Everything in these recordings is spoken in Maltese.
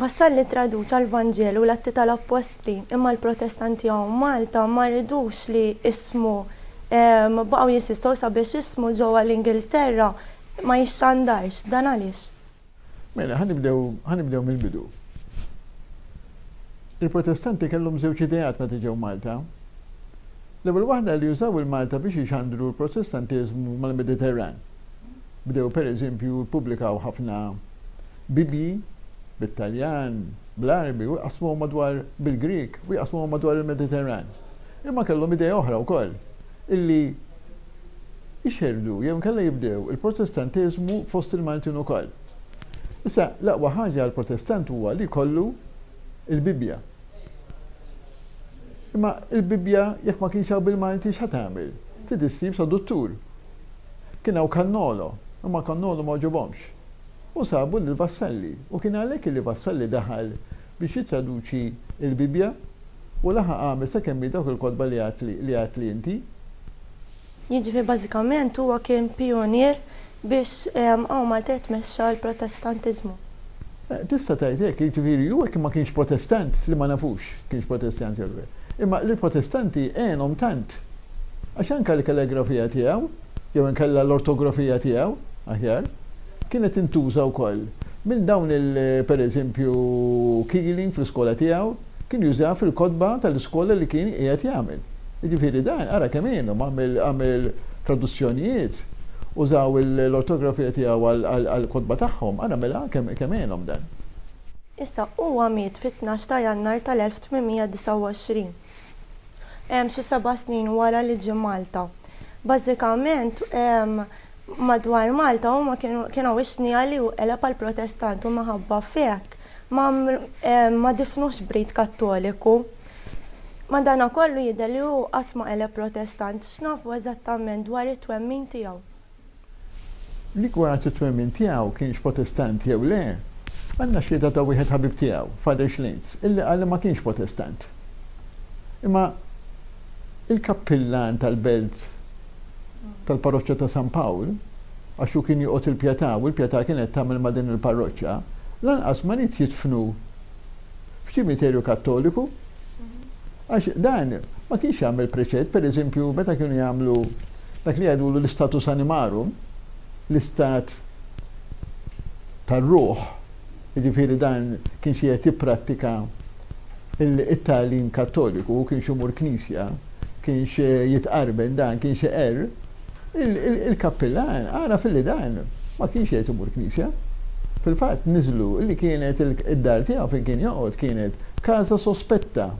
Vassal li ttraduċa l-Vanġelu u l-Atti tal-Appostli, imma l-Protestanti hawn Malta ma ridux li ismu, baqgħu jissistow sabiex ismu ġewwa l-Ingilterra ma jixxandarx. Dan għaliex? Mela, ħa nibdew, ħa nibdew mill-bidu. Il-Protestanti kellhom żewġ ideat meta ġew Malta. L-ewwel waħda li użaw il-Malta biex ixandru l-Protestantiżmu mal-Mediterran. Bdew pereżempju ppubblikaw ħafna Bibbji bit-Taljan, bl-Għarbi u jqassmuhom madwar bil-Grieg u jqassmuhom madwar il-Mediterran. Imma kellhom idea oħra wkoll, illi jxerrdu jew inkella jibdew il-Protestantiżmu fost il-Maltin ukoll. Issa, l-aqwa ħaġa għall-Protestant huwa li jkollu l-Bibbja. Imma l-Bibbja jekk ma kienx hawn bil-Malti x'ħa tagħmel? Trid issib traduttur. Kien hawn Cannolo, imma Cannolo ma għoġobhomx. U sabu lil Vassalli. U kien għalhekk li Vassalli daħal biex jittraduċi l-Bibbja u laħaq għamel sakemm hi dawk il-kotba li għedt li inti. Jiġifieri bażikament huwa kien pijunier biex hawn Malta jitmexxa l-Protestantiżmu. Tista' tgħid hekk, jiġifieri hu hekk ma kienx Protestant li ma nafux kienx Protestant jew le. Imma lill-Protestanti għenhom tant. Għax anke l-kalligrafija tiegħu. jew inkella l-ortografija tiegħu, aħjar, kienet tintuża wkoll minn dawn il per eżempju Keeling fl-iskola tiegħu kien jużaha fil-kotba tal-iskola li kien qiegħed jagħmel. Jiġifieri dan ara kemm għinhom għamel traduzzjonijiet, użaw l-ortografija tiegħu għall-kotba tagħhom, ara mela kemm għinhom dan. Issa, huwa miet fit-tnax ta' Jannar tal-1829. hemm xi seba' snin wara li ġie Malta. Bażikament madwar Malta huma kien hawn ix-xnigħa li hu qeleb għal Protestant u minħabba f'hekk ma difnuhx b'rit Kattoliku. Madanakollu jidher li hu qatt ma qeleb Protestant. X'nafu eżattament dwar it-twemmin tiegħu? Rigward it-twemmin tiegħu, kienx Protestant jew le, għandna xhieda ta' wieħed ħabib tiegħu, Father Schlinz, illi qal li ma kienx Protestant. Imma il-kappillan tal-belt tal-parroċċa ta' San Pawl, għax hu kien joqgħod il-Pjetà u l-Pjetà kienet tagħmel ma' din il-parroċċa, lanqas ma ried jidfnu f'ċimiterju Kattoliku, għax dan ma kienx jagħmel preċed, per eżempju, meta kienu jagħmlu dak li jgħidulu l-istatus animarum, l-istat tar-ruħ, jiġifieri dan kienx qiegħed jipprattika it-tagħlim Kattoliku, hu kienx imur knisja, kienx jitqarben dan, kienx iqerr, il-kappillan għaraf illi dan ma kienx qiegħed imur knisja. Fil-fatt niżlu li kienet id-dar tiegħu fejn kien joqgħod kienet casa sospetta,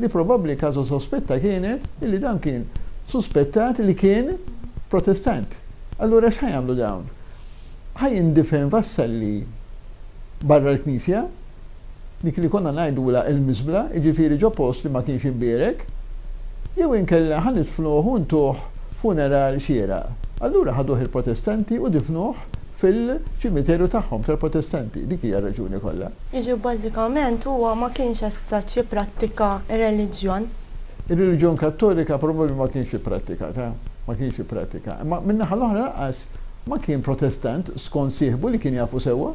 li probabbli casa sospetta kienet illi dan kien suspettat li kien Protestant. Allura x'ħa jagħmlu dawn? Ħa jindifen Vassalli barra l-knisja? dik li konna ngħidulha il-miżbla, jiġifieri ġo post li ma kienx imbierek, jew inkella ħa nidfnuh u ntuh funeral xieraq. Allura ħaduh il-Protestanti u difnuh fil-ċimiterju tagħhom tal-Protestanti. Dik hija r-raġuni kollha. Jiġifieri bażikament huwa ma kienx essat jipprattika r-reliġjon. Ir-reliġjon Kattolika probabbli ma kienx ipprattikatha, ma kienx ipprattika. Imma min-naħa l-oħra lanqas ma kien Protestant skont sieħbu li kien jafu sewwa.